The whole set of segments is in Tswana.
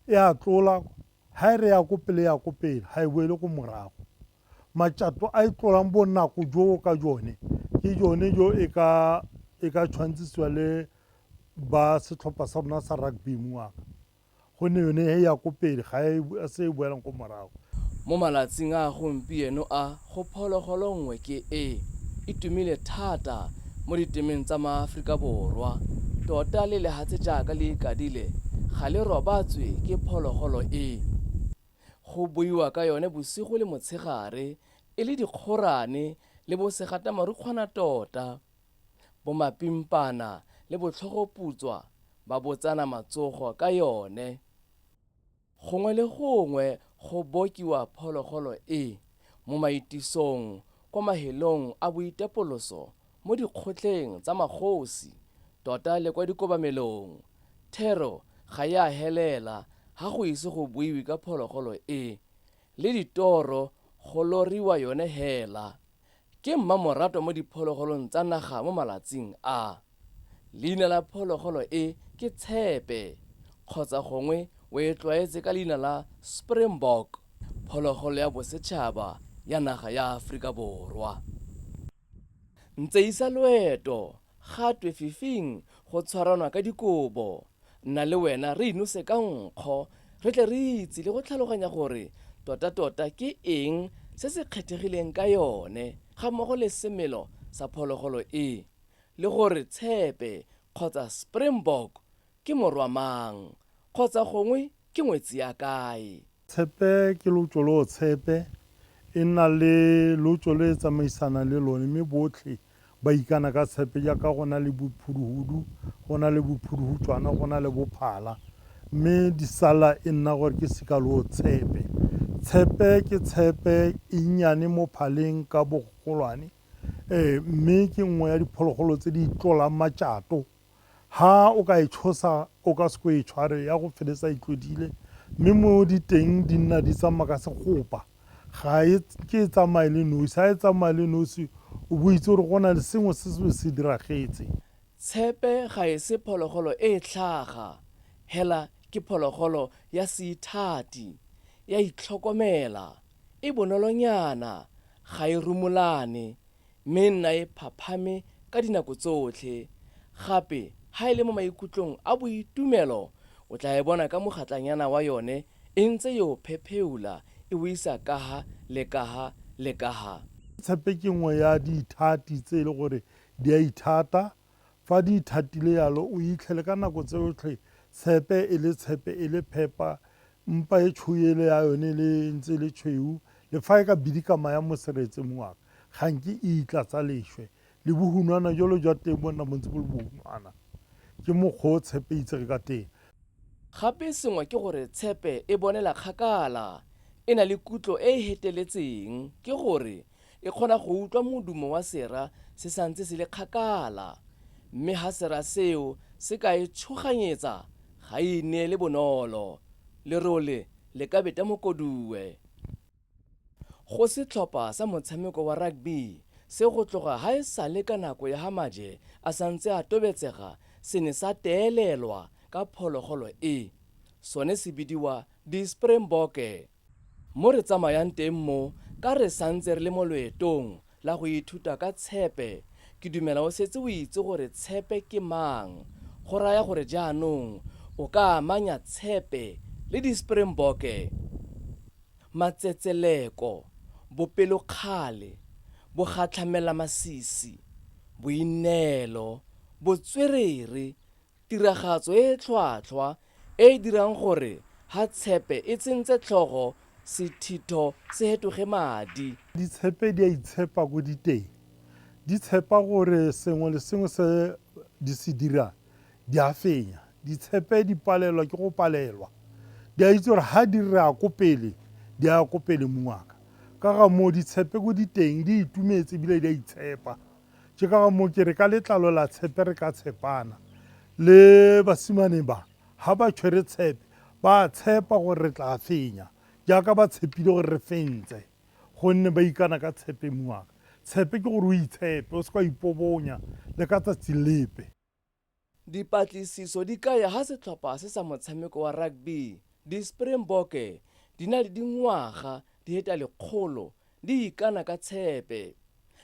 e a tlola ha e re ya ko pele ya ko pele ha e boele ko morago matšato a e tlolang bonako joo ka jone ke jone jo e ka e ka tshwantsisiwa le ba setlhopha sa rona sa rugby moaka gonne yone e ya ko pele, ga e se e boelang ko morago. Mo malatsing a gompieno a, go phologolo nngwe ke e e tumile thata mo ditemeng tsa maAforika Borwa. Tota le lehatshe jaaka le ikadile, ga le robatswe ke phologolo e. Go buiwa ka yone bosigo le motshegare, e le dikgorane le bosegatamorukgwana tota. bomapimpana le botlhogoputswa ba bo tsana matsogo ka yone. Gongwe le gongwe go bokiwa phologolo e, mo maitisong, kwa mahelong a boitapoloso, mo dikgotleng tsa magosi, tota le kwa dikobamelong, thero ga e a helela ha go ise go buiwe ka phologolo e, le ditoro go loriwa yone hela. Ke mmamoratwa mo diphologolong tsa naga mo malatsing a. Leina la phologolo e ke tshepe, kgotsa gongwe o e tlwaetse ka leina la springbok, phologolo ya bosetšhaba ya naga ya Aforika Borwa. Ntseisa loeto, ga twe fifing go tshwaranwa ka dikobo, Nna le wena re inose ka nkgo re tle re itse le go tlhaloganya gore totatota ke eng se se kgethegileng ka yone ga mmogo le semelo sa phologolo e, le gore tshepe kgotsa springbok ke morwa mang kgotsa gongwe ke ngwetsi ya kae. Tshepe ke lotso lo o tshepe, e nna le lotso le e tsamaisanang le lone, mme botlhe ba ikana ka tshepe jaaka go na le bophuduhudu, go na le bophuduhutswana, go na le bophala, mme di sala e nna gore ke seka lo o tshepe. Tshepe ke tshepe e nnyane mo phaleng ka bogolwane, ee, mme ke nngwe ya diphologolo tse di itlolang matšato. Ha o ka e tshosa, o ka se ko e tshware, ya go feletsa e tlodile, mme mo di teng di nna di tsamaya ka segopa. Ga e ke e tsamaye le nosi, ha e tsamaya le nosi o bo o itse gore go na le sengwe se se be se diragetse. Tshepe ga e se phologolo e e tlhaga, hela ke phologolo ya seithati, ya itlhokomela, e bonolonyana, ga e rumolane, Mme e nna e phaphame ka dinako tsotlhe. Gape, ha e le mo maikutlong a boitumelo, o tla e bona ka mogatlanyana wa yone e ntse yo phepheula e o isa kaha le kaha le kaha. Tshepe ke nngwe ya diithati tse e le gore di a ithata. Fa di ithatile yalo, o itlhele ka nako tseotlhe tshepe e le tshepe e le phepa, mpa e tshouele ya yone le ntse le tshweu, le fa e ka bidika maya mo seretse moaka, ga nke e itlatsa leshwe. Le bohunwana jolo jwa teng bo nna bo ntse bo le bohunwana. Ke mokgwa o tshepe e itsege ka teng. Gape sengwe ke gore tshepe e bonela kgakala, e na le kutlo e e heteletseng, ke gore E kgona go utlwa modumo wa sera se sa ntse se le kgakala, mme ha sera seo se ka e tshoganyetsa, ga e ineele bonolo. Lerole le ka beta mokoduwe. Go setlhopha sa motshameko wa rugby se go tloga ha e sale ka nako ya ha maje a sa ntse a tobetsega se ne sa teelelwa ka phologolo e, sone se bidiwa Di-Springbokke. Mo re tsamayang teng mo, ka re santse re le mo loetong la go ithuta ka tshepe, ke dumela o setse o itse gore tshepe ke mang, go raya gore jaanong o ka amanya tshepe le di-Springbokke, matsetseleko, bopelokgale, bogatlhamelamasisi, boineelo, botswerere, Tiragatso e e tlhwatlhwa e e dirang gore Hatshepe e tsentse tlhogo sethitho se hetoge madi. Ditshepe di a itshepa ko di teng. Di tshepa gore sengwe le sengwe se di se dirang di a fenya. Ditshepe di palelwa ke go palelwa. Di a itse gore ha di re a ko pele, di a ya ko pele mongaka. Ka ga moo, ditshepe ko di teng di itumetse ebile di a itshepa. Ke ka ga moo ke re ka letlalo la tshepe re ka tshepana. Le basimane ba, ga ba tshwere tshepe, ba a tshepa gore re tla fenya, jaaka ba tshepile gore re fentse, gonne ba ikana ka tshepe. Tshepe ke gore o itshepe, o se ka wa ipobonya le ka tsatsi lepe. Dipatlisiso di kaya ha setlhopha se sa motshameko wa rugby, di-Springbokke, di na le dingwaga di heta lekgolo di ikana ka tshepe.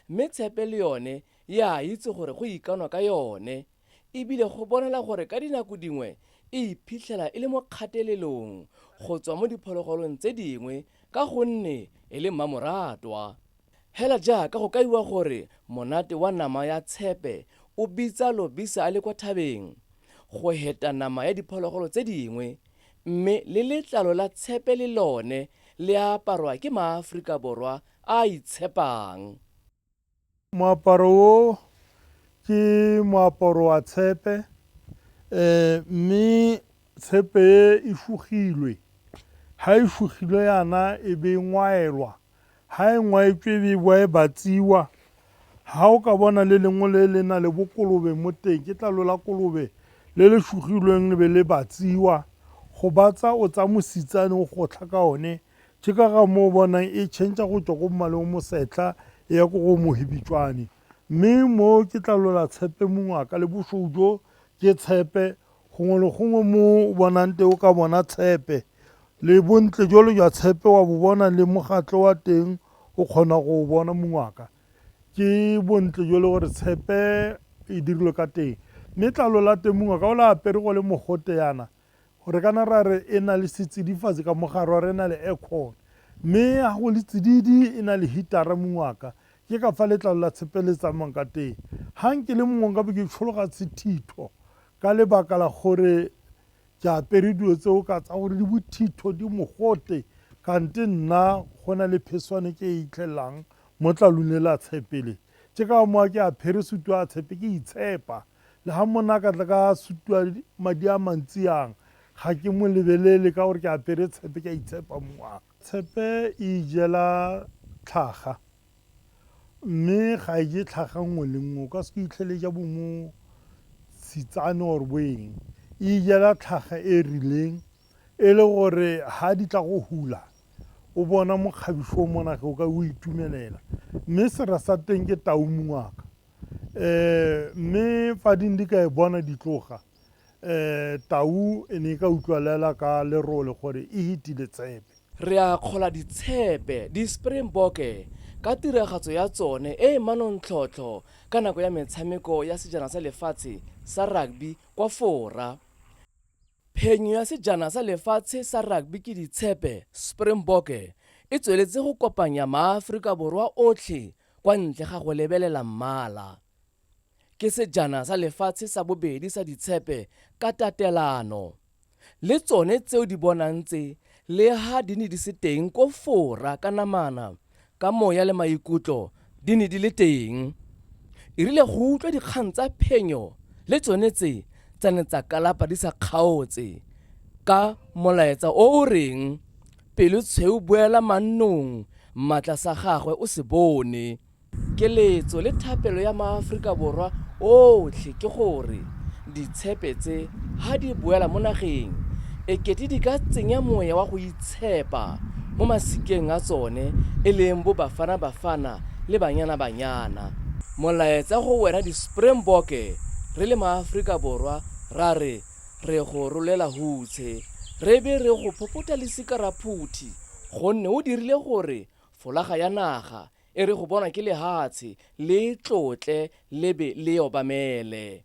Mme tshepe le yone e a itse gore go ikanwa ka yone e bile go bonala gore ka dinako dingwe e iphitlhela e le mo kgatelelong go tswa mo diphologolong tse dingwe ka gonne e le mmamoratwa. Hela jaaka go kaiwa gore monate wa nama ya tshepe o bitsa lobisa a le kwa thabeng go heta nama ya diphologolo tse dingwe, mme le letlalo la tshepe le lone le a aparwa ke maAforika Borwa a a itshepang. Moaparo o, ke moaparo wa tshepe, mme tshepe e e fugilwe, ha e fugilwe yana e be e ngwaelwa Ha e ngwaetswe e be e boa e batsiwa. Ha o ka bona le lengwe le le na le bokolobe mo teng, ke tlalo la kolobe le le shugilweng le be le batsiwa. Go batsa o tsaya mositsane o gotlha ka one, ke ka ga moo o bonang e change-a go tswa ko mmaleng o mosetlha e ya ko go mohibitswane. Mme mo ke tlalo la tshepe mongwe a ka le bosweu jo ke tshepe, Gongwe le gongwe mo o bonang teng o ka bona tshepe, le bontle jalo jwa tshepe wa bo bona le mogatlho wa teng o kgona go o bona mongwaka. Ke bontle jole gore tshepe e dirilwe ka teng. Mme tlalo la teng mongwaka o le apere go le mogote yana, re kana ra re e na le setsidifatsi ka mogare wa re e na le aircon. Mme ga go le tsididi e na le heater-a mongwaka, Ke ka fa letlalo la tshepe le tsamang ka teng. Ha nke le mongwe nka bo ke tshologa sethitho ka lebaka la gore ke apere dilo tseo ka tsa gore di bothitho, di mogote, kante nna go na le pheswane ke e itlhelelang mo tlalung le la tshepe le. Ke ka mowa ke apere sutu ya tshepe ke itshepa. Le ha monna a ka tla ka sutu ya madi a mantsi yang, ga ke mo lebelele ka gore ke apere tshepe ke a itshepa mowa. Tshepe e ijela tlhaga, mme ga e je tlhaga nngwe le nngwe. O ka se itlhele e ja bo mo tshitsane or bo eng. E ijela tlhaga e rileng e le gore ha di tla go hula o bona mokgabiso o monage o ka o itumelela mme sera sa teng ke tau mongaka um mme fa ding di ka e bona di tloga um tau e ne e ka utlwalela ka lerole gore e hitile tshepe. Re a kgola ditshepe, di-Springbokke, ka tiragatso ya tsone e e manontlhotlho ka nako ya metshameko ya Sejana sa Lefatshe sa Rugby kwa Fora. Phenyo ya Sejana sa Lefatshe sa Rugby ke Ditshepe, Springbokke, e tsweletse go kopanya maAforika Borwa otlhe kwa ntle ga go lebelela mmala. Ke sejana sa lefatshe sa bobedi sa ditshepe ka tatelano, le tsone tseo di bonang tse leha di ne di se teng ko fora ka namana, ka moya le maikutlo di ne di le teng. E rile go utlwa dikgang tsa phenyo le tsone tse tsa ne tsa kalapa di sa kgaotse ka molaetsa o o reng, Pelo tshweu boela mannong, maatla sa gagwe o se bone. Keletso le thapelo ya maAforika Borwa otlhe ke gore ditshepe tse ha di boela mo nageng e kete di ka tsenya moya wa go itshepa mo masikeng a tsone e leng bo Bafana Bafana le Banyana Banyana. Molaetsa go wena diSpringbokke, re le maAforika Borwa ra re re go rolela hutshe, re be re go phopotha le sikaraphouthi gonne o dirile gore folaga ya naga E re go bonwa ke lehatshe, le e tlotle, le be le e obamele.